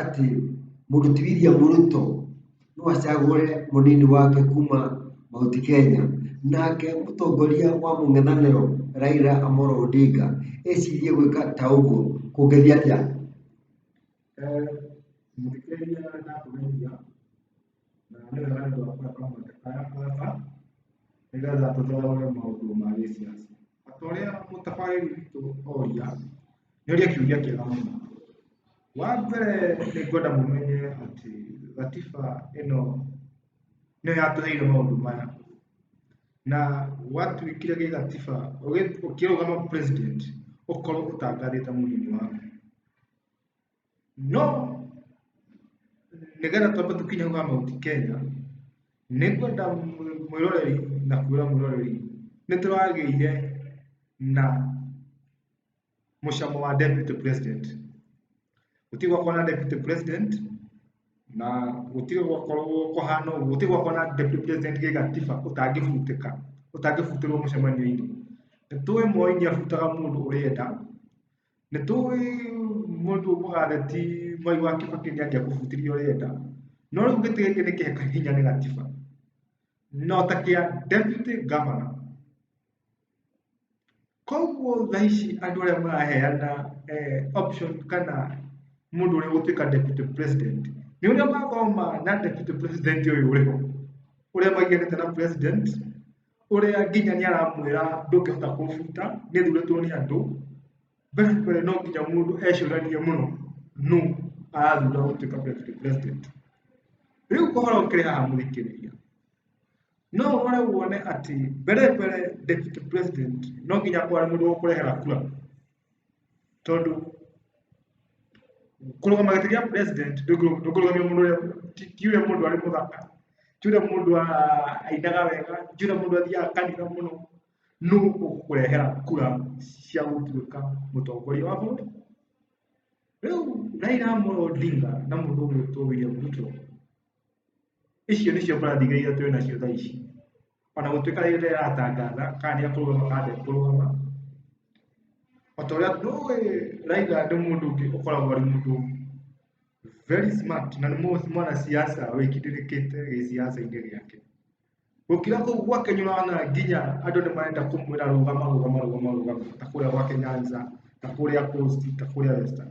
atĩ mũndũ ti William Ruto no acagũre mũnini wake kuma Mount Kenya, nake mũtongoria wa mũng'ethanĩro Raila Amolo Odinga ecirie gwĩka ta ũguo kũngĩthiĩ atĩa? Mũthikĩrĩria ndakuhĩrĩria. na nĩ wega andũ a kũrĩa kamũtĩ kaya kũgata nĩgetha tũthoge maũndũ ma gĩciaca ta ũrĩa mũtabarĩri witũ oria nĩ oria kĩũria kĩega mũno wa mbere nĩ ngwenda mũmenye atĩ gatiba ĩno nĩyo yatũheire maũndũ maya na gwatuĩkire gĩ gatiba ũgĩ- ũkĩrũgama president ũkorwo ũtangathĩte mũnini waku no nĩgetha twambe tũkinye kwa Mount Kenya nĩ ngwenda mwĩroreri na kwĩra mwĩroreri nĩ tũragĩire na mũcamo wa deputy president gũtirĩ gwakorwo na deputy president na gũtirĩ gwakorwo kũhana ũguo gũtirĩ gwakorwo na deputy president gĩgatiba ũtangĩbutĩka ũtangĩbutĩrwo mũcemanio-inĩ nĩ tũĩ Moi nĩ abutaga mũndũ ũrĩa enda Nĩ tũĩ mũndũ ũmũga theti Mwai wa Kĩbakĩ nĩ angĩakũbutĩria ũrĩa enda. No rĩu gĩtĩ gĩkĩ nĩ kĩheka hinya nĩ gatiba. No ta kĩa deputy governor. Koguo thaa ici andũ arĩa maraheana eh, option kana mũndũ ũrĩa gũtuĩka deputy president nĩ ũrĩa mathoma na deputy president ũyũ ũrĩ ho ũrĩa maiganĩte na president ũrĩa nginya nĩ aramwĩra ndũngĩhota kũbuta nĩ thurĩtwo nĩ andũ mbere mbere no nginya mũndũ ecũranie mũno nũ arathura gũtuĩka president- president rĩu ũhoro ũkĩrĩ haha mũthikĩrĩria no ũrore wone atĩ mbere mbere deputy president no nginya kware mũndũ wa kũrehera kura tondũ kũrũgama gĩtĩ gĩa president ndũkũrũgamia mũndũ ũrĩa ti ti ũrĩa mũndũ arĩ mũthaka ti ũrĩa mũndũ a- ainaga wega ti ũrĩa mũndũ athiaga kanitha mũno nũ ũkũrehera kura cia gũtuĩka mũtongoria wa bũrũri rĩu Raila Amolo Odinga na mũndũ ũgwĩtwo William Ruto Icio nĩcio mbarathi iria ithatũ twĩ nacio thaa ici. Ona gũtuĩka rĩrĩa ndĩratangatha kana nĩ akũrũgama kana ndekũrũgama, o ta ũrĩa ndũĩ Raila nĩ mũndũ ũngĩ ũkoragwo arĩ mũndũ very smart na nĩ mũ- mwanasiasa wĩkindĩrĩkĩte gĩsiasa-inĩ gĩake. Gũkira kũu gwake nĩ ũrona nginya andũ nĩ marenda kũmwĩra rũgama rũgama rũgama rũgama ta kũrĩa gwake Nyanza, ta kũrĩa Coast, ta kũrĩa Western.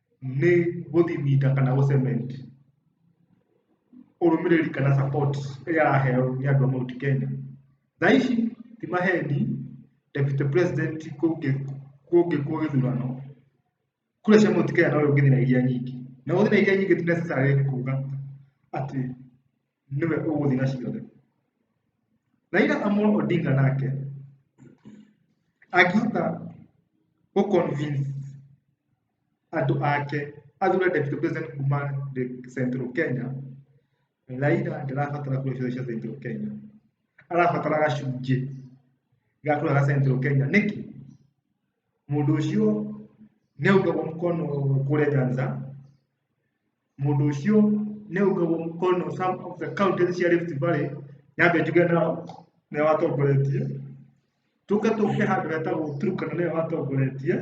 nĩ gũthimita kana gũ cement ũrũmĩrĩri kana support ĩrĩa araheo nĩ andũ a Mount Kenya. Thaa ici ti maheni deputy president kũngĩkwo gĩthurano kura cia Mount Kenya no ũngĩthĩ na iria nyingĩ, na gũthĩ na iria nyingĩ ti necessarily kuga atĩ nĩwe ũgũthi na ciothe Raila Amolo Odinga nake akĩhota gũ convince andũ ake athure deputy president kuma the central Kenya Raila ndarabatara kura ciothe cia central Kenya arabatara gacunjĩ ga kura ga central Kenya nĩkĩ mũndũ ũcio nĩaugagwo mkono kũrĩa Nyanza mũndũ ũcio nĩ ũgagwo mũkono some of the counties cia Rift Valley nyambe njuge nao nĩo watongoretie tũke tũke handũ hetagwo Turkana nĩyo watongoretie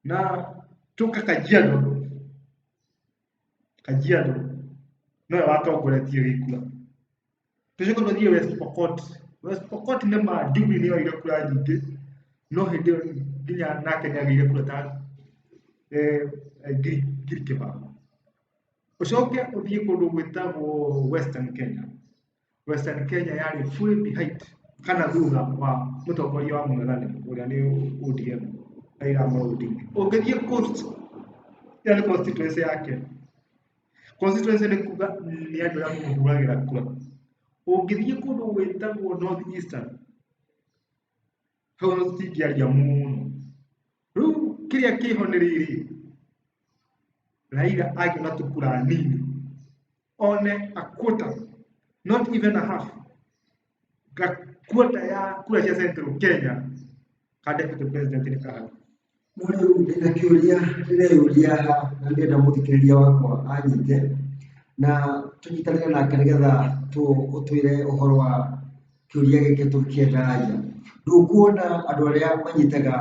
na tũke Kajiado Kajiado nĩyo watongoretie gĩkura tũcoke tũthiĩ west pokot west pokot nĩ ma jubilee nĩyo ire kura nyingĩ no hĩndĩ ĩyo nginya nake nĩ agĩire kura ta eh, ngiri ngiri kĩbao ucoke uthiĩ kũndũ gwĩtagwo western kenya western kenya yarĩ full behind kana thutha wa mũtongoria wa mũng'ethanĩ ũrĩa nĩ odm raila amolo odinga ũngĩthiĩ coast ĩyo nĩ constituency yake constituency nĩ kuga nĩ andũ arĩa mũhũragĩra kura ũngĩthiĩ kũndũ gwĩtagwo north eastern hau no tũtingĩaria mũno rĩu kĩrĩa kĩho nĩ rĩrĩ raira agĩona tũkura nini one a quarter not even a half gakuota ya kura cia central kenya kandĩkwo to president nĩ kahana Mũrĩ rĩu ndĩna kĩũria ndĩreyũria haha na ndĩrenda mũthikĩrĩria wakwa anyite na tũnyitanĩre nake nĩgetha tũ- ũtwĩre ũhoro wa kĩũria gĩkĩ tũkĩendagia. Ndũkuona andũ arĩa manyitaga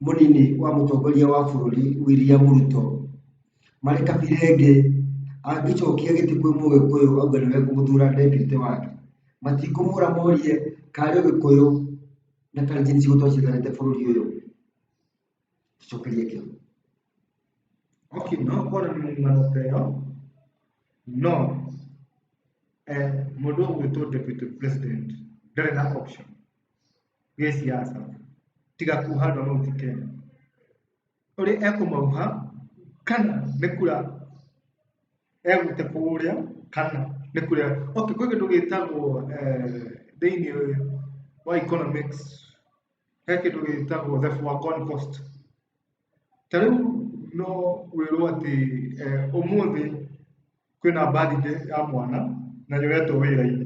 mũnini wa mũtongoria wa bũrũri William Ruto Marĩ kabira ĩngĩ, angĩcokia gĩtĩ kwĩ mũgĩkũyũ auge nĩwe ekũmũthura deputy wake, matikũmũra morie kana arĩ ũgĩkũyũ na Kalenjin ciugo tondũ ciiganĩte bũrũri ũyũ? Tũcokerie kĩo. Okay, no ũkorwo na mĩrũgamo ta ĩyo, no eh, mũndũ ũgwĩtwo deputy president ndarĩ na option gĩ siasa tiga kuhanda no ti Kenya. ũrĩa ekũmauha kana nĩ kura egũte kũrĩa kana nĩ kura okay kwĩ kĩndũ gĩtagwo eh, thĩinĩ wa economics he kĩndũ gĩtagwo the foregone cost ta rĩu no wĩrwo atĩ eh, ũmũthĩ kwĩna birthday ya mwana na nĩwetwo wĩra-inĩ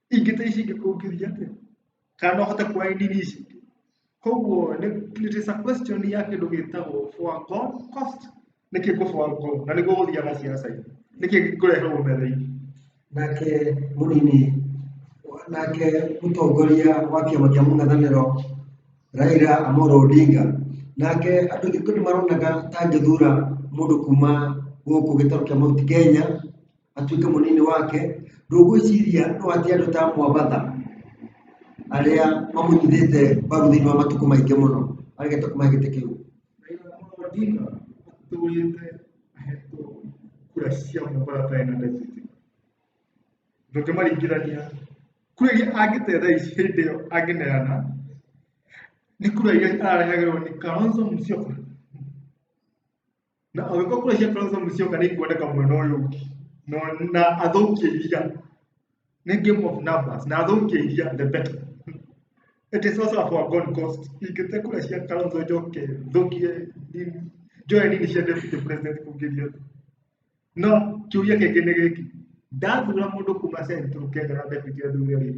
ingĩte ici ingĩkũngithia atĩa kana no hote kuoya nini ici ingĩ koguo nĩ- it is a question ya kĩndũ gĩtagwo for God cost nĩkĩ ngũ for God na nĩguo gũthiaga ciaca-inĩ nĩkĩ ngũreherwo metha-inĩ nake mũnini nake mũtongoria wa kĩama kĩa mũng'ethanĩro Raila Amolo Odinga nake andũ aingĩ nĩ maronaga ta angĩthura mũndũ kuma gũkũ gĩtarũ kĩa Mount Kenya atuĩke mũnini wake ndũgwĩciria no atĩ andũ ta mwambatha arĩa mamũnyitĩte mbaru thĩinĩ wa matukũ maingĩ mũno aregete kuma gĩtĩ kĩu Raila Amolo Odinga atũrĩte ahetwo kura cia mũmbara atarĩ na ndebiti ndũngĩmaringithania kura iria angĩtee thaa ici hĩndĩ ĩyo angĩneana nĩ kura iria ararehagĩrwo nĩ Kalonzo Musyoka na angĩkorwo kura cia Kalonzo Musyoka nĩ ikwendeka mwena ũyũ ũngĩ no na athũkie iria nĩ game of numbers na athũkie iria the better it is also for God cost ingĩte kura cia Kalonzo njoke thũkie nini njoe nini cia deputy president kũngĩria no kiuria kĩngĩ nĩ gĩkĩ ndathura mũndũ kuma central Kenya na deputy athure rĩ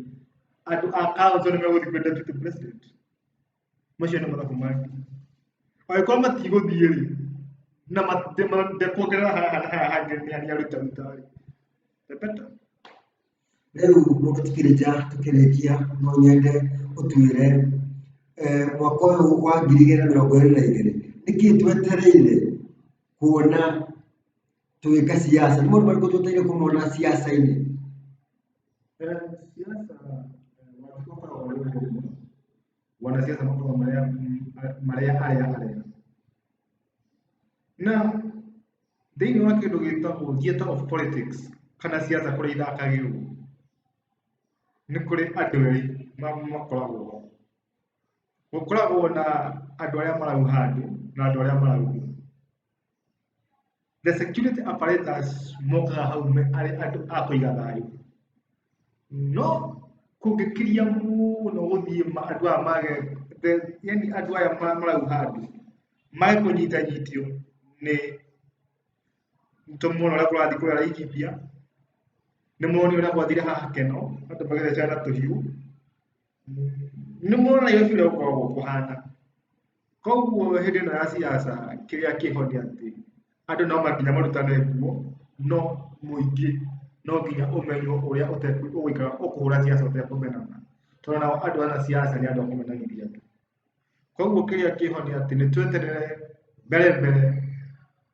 andũ a Kalonzo nĩ megũthiĩ kwĩ deputy president macio nĩ mathabu manyu angĩkorwo matigũthiĩ rĩ na ndekuongerera haha hangĩ nĩ harĩa rutaruta rĩ repeta rĩu mũndũ tukĩrĩkia tukĩrĩkia no nyende ũtuĩre eh, mwaka ũyũ wa ngiri igĩrĩ na mĩrongo ĩrĩ na igĩrĩ nĩkĩ twetereire kuona tũgĩka siasa nĩ maũndũ marĩkũ twetereire kũmona siasa-inĩ Siasa watukoka walio wanasiasa makoa marea marea haya haya na thĩinĩ wa kĩndũ gĩtagwo theatre of politics kana siasa kũrĩa ithakagĩrwo nĩ kũrĩ andũ erĩ ma- makoragwo gũkoragwo na andũ arĩa marau handũ na andũ arĩa marau the security apparatus mokaga hau me- arĩ andũ a kũiga thayũ no kũngĩkĩria mũno gũthiĩ ma- andũ aya mage the- yani andũ aya ma- marau handũ mage kũnyitanyitio nĩ tũmona ũrĩa kũrathiĩ kũrĩa Laikipia nĩ moni ũrĩa gwathire haha keno andũ magĩthecana tũhiũ nĩ mona Nairobi ũrĩa gũkoragwo kũhana koguo hĩndĩ ĩno ya siasa kĩrĩa kĩho nĩ atĩ andũ no makinya marutane nguo no mũingĩ no nginya ũmenywo ũrĩa ũtekũ- ũgũikara ũkũhũra siasa ũtekũmenana tondũ nao andũ ana siasa nĩ andũ akũmenanithia tu koguo kĩrĩa kĩho nĩ atĩ nĩ tweterere mbere mbere